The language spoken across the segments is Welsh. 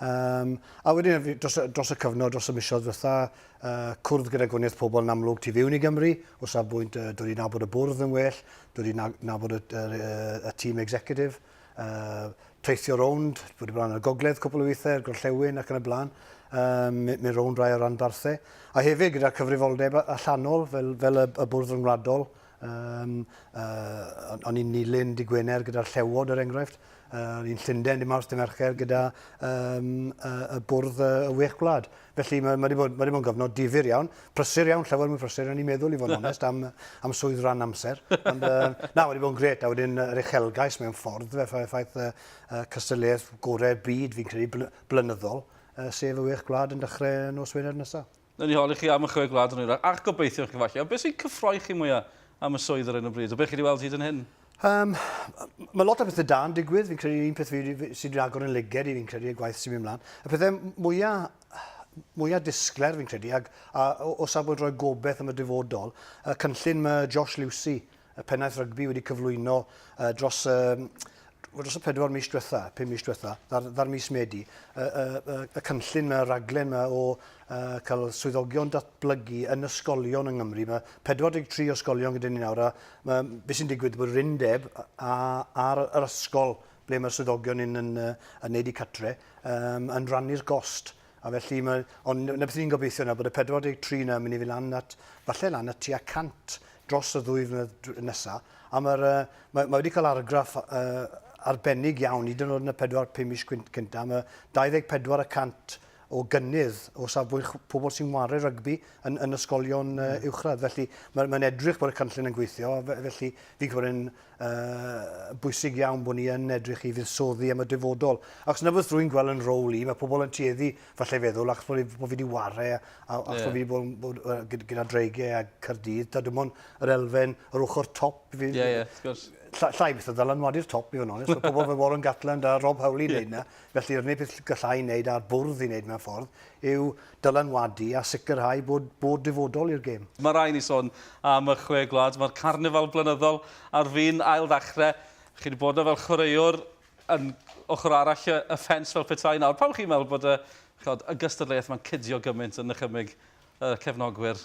Um, a wedyn, dros, dros y cyfnod, dros y misoedd ddiwetha, uh, cwrdd gyda gwaniaeth pobl yn amlwg tu fiwn i Gymru, o safbwynt uh, dod i nabod y bwrdd yn well, dod i nabod y, y, y, y tîm executive, uh, teithio rownd, bod i blaen y gogledd cwpl o weithiau, gorllewin ac yn y blaen, um, mynd rownd rai o ranbarthau. A hefyd gyda cyfrifoldeb allanol fel, fel y, y bwrdd rhyngwladol, Yym, yy, o'n i'n nilyn dy Gwener gyda'r llewod, er enghraifft. Yy, o'n i'n Llundain dy Mawrth dy Mercher gyda um, y, y bwrdd y, y wych gwlad. Felly mae, mae wedi bod, mae wedi bod yn gyfnod difyr iawn, prysur iawn, llawer mwy prysur o'n i'n meddwl i fod yn onest am, am swydd rhan amser. Ond uh, na, wedi bod yn gret, a wedyn yr uchelgais mewn ffordd, fe ffaith, ffaith uh, uh, cystadleuaeth gorau'r byd fi'n credu blynyddol, uh, sef y wych gwlad yn dechrau nos Wener nesaf. Newn ni holi chi am y Chwe Gwlad yn hwyrach, ac gobeithio chi falle. Ond beth sy'n cyffroi chi mwya am y swydd ar hyn o bryd, o beth chi wedi weld hyd yn hyn? Um, mae lot o bethau da yn digwydd, fi'n credu un peth fi, fi sydd wedi agor yn lyged i fi'n credu y gwaith sy'n mynd mlaen. Y pethau mwyaf mwyaf disgler fi'n credu, ag, a, o, o safbwynt roi gobeith am y dyfodol, y cynllun mae Josh Lucy y pennaeth rygbi wedi cyflwyno uh, dros um, dros y pedwar mis diwetha, pum mis diwetha, ddar, ddar mis Medi, y, y, y, y cynllun, y raglen yma o uh, cael swyddogion datblygu yn ysgolion yng Nghymru. Mae 43 ysgolion gyda ni nawr, a mae, beth sy'n digwydd bod yr undeb a'r ysgol ble mae'r swyddogion yn, yn, yn, yn neud i catre, um, yn rannu'r gost. A felly, mae, ond na beth ni'n gobeithio yna, bod y 43 yna yn mynd i fynd lan at, falle lan at tua 100 dros y ddwy flynedd nesaf. A mae'r, uh, mae, mae wedi cael argraff uh, arbennig iawn, hyd yn oed yn y 4-5 mis cyntaf. Mae 24 y cant o gynnydd o safbwynt pobl sy'n wario rygbi yn, yn ysgolion uh, uwchradd. Felly mae'n mae edrych bod y cynllun yn gweithio, felly fi'n gwybod yn Mae'n bwysig iawn bod ni yn edrych i fuddsoddi am y dyfodol. Ac na beth rwy'n gweld yn rôl i, mae pobl yn tueddu falle feddwl ac bod fi wedi wario a ac yeah. bod fi wedi bod, bod gyda dreigau a Cyrdydd, da dim ond yr elfen, yr ochr top. Ie, ie, wrth gwrs. Llai beth o ddylanwadu'r top i fod yn onest. Mae pobl fel Warren Gatland a Rob Howley yn yeah. neud na. Felly, yr unig beth gallai wneud a'r bwrdd i wneud mewn ffordd yw dylanwadu a sicrhau bod bod dyfodol i'r gêm. Mae rhaid i ni sôn am y Chwe Gwlad. Mae'r carnifal blynyddol ar fin ailddechrau. Chi wedi bod yna fel chwaraewr yn ochr arall y y ffens fel petai nawr. Pam chi'n meddwl bod y ch'od y gystadleuaeth 'ma'n cydio gymaint yn nychymyg y cefnogwyr?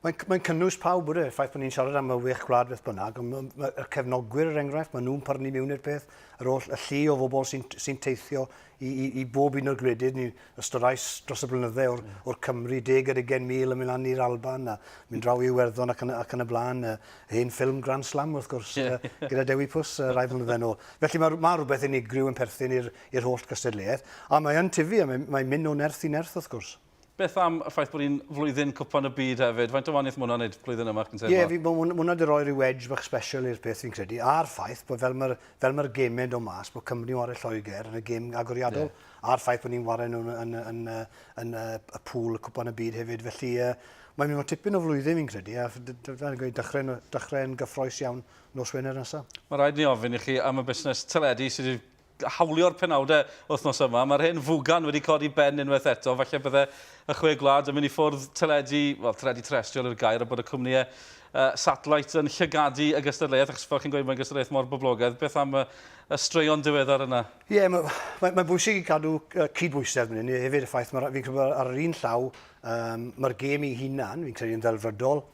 Mae'n mae cynnwys pawb bod e, ffaith bod ni'n siarad am y wech gwlad beth bynnag, ond mae, mae, y cefnogwyr er enghraifft, maen nhw'n pyrnu mewn i'r peth, yr oll y llu o fobl sy'n sy teithio i, i, i bob un o'r gwledydd, ni ystorais dros y blynydde o'r, mm. o'r Cymru, deg ar ugen mil yn mynd lan i'r Alban, a mynd draw i Iwerddon ac yn, ac yn y blaen, y hen ffilm Grand Slam wrth gwrs, yeah. uh, gyda Dewi Pws uh, rai flynydde nôl. Felly mae, mae rhywbeth unigryw yn perthyn i'r holl gystadleuaeth, a mae'n tyfu, a mae'n mae mynd o nerth i nerth wrth gwrs. Beth am y ffaith bod hi'n flwyddyn Cwpan y Byd hefyd? Faint o wahaniaeth mae hwnna'n wneud blwyddyn yma, chi'n teimlo? Ie, fi, mae hwn- hwnna 'di roi rhyw edge bach special i'r peth fi'n credu, a'r ffaith bod fel mae'r fel mae'r gemau'n dod mas, bod Cymru yn ware Lloegr yn y gem agoriadol, a'r ffaith bod ni'n ware nhw yn, yn, yn, yn, yn y, y pŵl y Cwpan y Byd hefyd, felly yy, mae'n mynd i fod tipyn o flwyddyn fi'n credu, a d- d- fel gweud, dechrau'n dechrau yn gyffroes iawn nos Wener nesaf. Mae rhaid ni ofyn i chi am y busnes teledu sydd wedi hawlio'r penawdau wythnos yma. Mae'r hen fugan wedi codi ben unwaith eto. Falle bydde y chwe gwlad yn mynd i ffwrdd teledu, wel, teledu terrestriol yw'r gair, a bod y cwmnïau uh, satellite yn llygadu y gystadleuaeth, achos fel chi'n gweud, mae'n gystadleuaeth mor boblogaidd. Beth am y, y straeon diweddar yna? Ie, yeah, mae'n ma, ma bwysig i cadw cydbwysedd fan hyn. Hefyd y ffaith, fi'n credu ar yr un llaw, um, mae'r gêm ei hunan, fi'n credu yn ddelfrydol,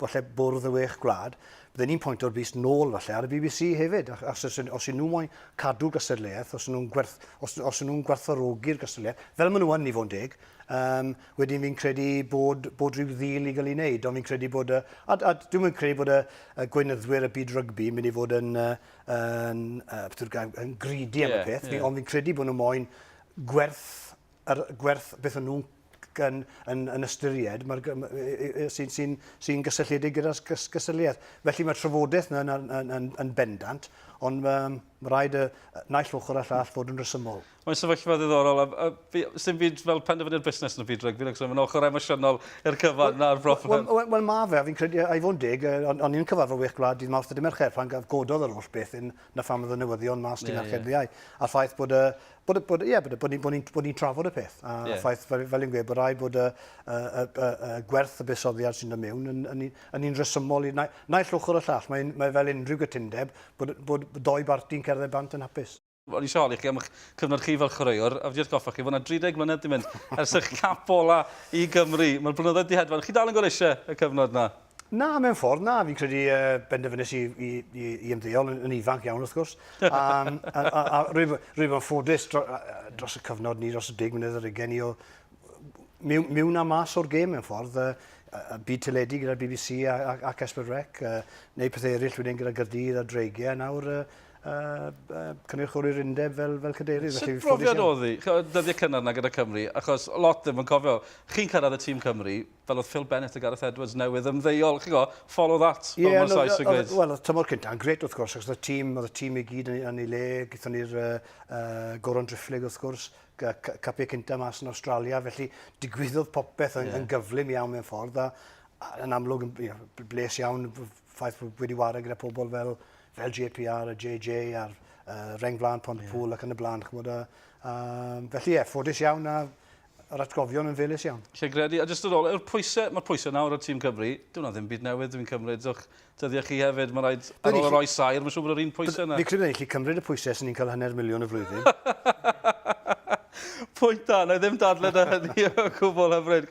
falle bwrdd y wech gwlad, bydden ni'n pwyntio'r bys nôl falle ar y bbc hefyd, achos os, os y'n nhw moyn cadw gystadleuaeth, os y'n nhw'n gwerth, os, os nhw'n gwerthfawrogi'r gystadleuaeth, fel maen nhw yn i fod yn deg, um, wedyn fi'n credu bod, bod rhyw ddil i gael ei wneud, ond fi'n credu bod, y, a, a dwi'n mynd credu bod y, y gweinyddwyr y byd rygbi yn mynd i fod yn, yn, yn, yn greedy am yeah, y peth, yeah. ond fi'n credu bod nhw moyn gwerth, er, gwerth beth o'n nhw'n yn, yn, yn ystyried mae'r, sy'n sy sy gysylltiedig gyda'r gysylltiaeth. Felly mae trafodaeth yna yn, yn, yn, yn, yn bendant, ond um, mae rhaid y naill ochr a llall fod yn resymol. Mae'n sefyllfa ddiddorol, a, a fi, sy'n fyd fel penderfynu'r busnes yn y byd rygbi, ac sy'n mynd ochr emosiynol i'r cyfan na'r broffwyd. Wel, well, well, mae fe, a fi'n credu, a i fod yn deg, o'n i'n cyfarfod wych gwlad dydd Mawrth y Mercher, pan gododd yr holl beth yn na pham oedd y newyddion mas ti'n yeah, archeb yeah. ddiau. A'r ffaith bod y, bod, bod, yeah, bod, bod, bod, bod ni'n trafod y peth. A yeah. ffaith, fel, fel i'n gweud, bod rhaid bod y, y, y, y, y gwerth y busoddiad sy'n dod mewn yn, yn, yn un resymol i na, naill ochr y llall. Mae, mae fel unrhyw gytundeb bod, bod, bod doi barti'n cerdded bant yn hapus. O'n i siol i chi am eich cyfnod chi fel chwaraewr, a wedi atgoffa chi fod yna 30 mlynedd di mynd ers eich cap ola i Gymru. Mae'r blynyddoedd di hedfan. Chi dal yn gorau eisiau y cyfnod yna? Na, mewn ffordd, na. Fi'n credu uh, benderfynus i, i, i, i ymddeol yn, yn ifanc iawn, wrth gwrs. a, a, a, a rwyf, rwyf yn ffodus dro, dros y cyfnod ni, dros y dig mynydd yr ugen ni o mewn, mewn a mas o'r gêm mewn ffordd. Uh, a byd teledu gyda'r BBC a, a, ac Esbyd Rec, uh, neu pethau eraill wedyn gyda Gyrdydd a Dreigiau, nawr uh, uh, uh, cynrychioli'r undeb fel, fel cadeirydd. Sut brofiad oedd hi? Dyddiau cynnar yna gyda Cymru, achos lot ddim yn cofio. Chi'n cyrraedd y tîm Cymru, fel oedd Phil Bennett a Gareth Edwards newydd ymddeol, chi'n go, follow that, fel yeah, mae'r saes yn gweud. Wel, oedd tymor cyntaf yn gret wrth gwrs, achos oedd y tîm, oedd y tîm i gyd yn ei le, gyda ni'r uh, uh, Goron Drifflig wrth gwrs, capiau cyntaf mas yn Australia, felly digwyddodd popeth yn, yeah. yn gyflym iawn mewn ffordd, a, a yn amlwg yn you know, bles iawn ffaith bod wedi wario gyda pobl fel, fel JPR a JJ a'r uh, Reng Flan Pont yeah. Pŵl ac yn y blaen, chymod, a, a, felly ie, yeah, ffodus iawn a yr atgofion yn felys iawn. Lle gredu, a jyst yn ôl, yw'r pwysau, mae'r pwysau nawr ar tîm Cymru, dyw hwnna ddim byd newydd dwi'n cymryd, o'ch dyddiau chi hefyd, mae rhaid ar ôl yr oes saer, mae'n siŵr bod yr un pwysau yna. Fi credu na i chi cymryd y pwysau sy'n ni'n cael hanner miliwn y flwyddyn. Pwynt da, na i ddim dadle da hynny o gwbl hyfryd.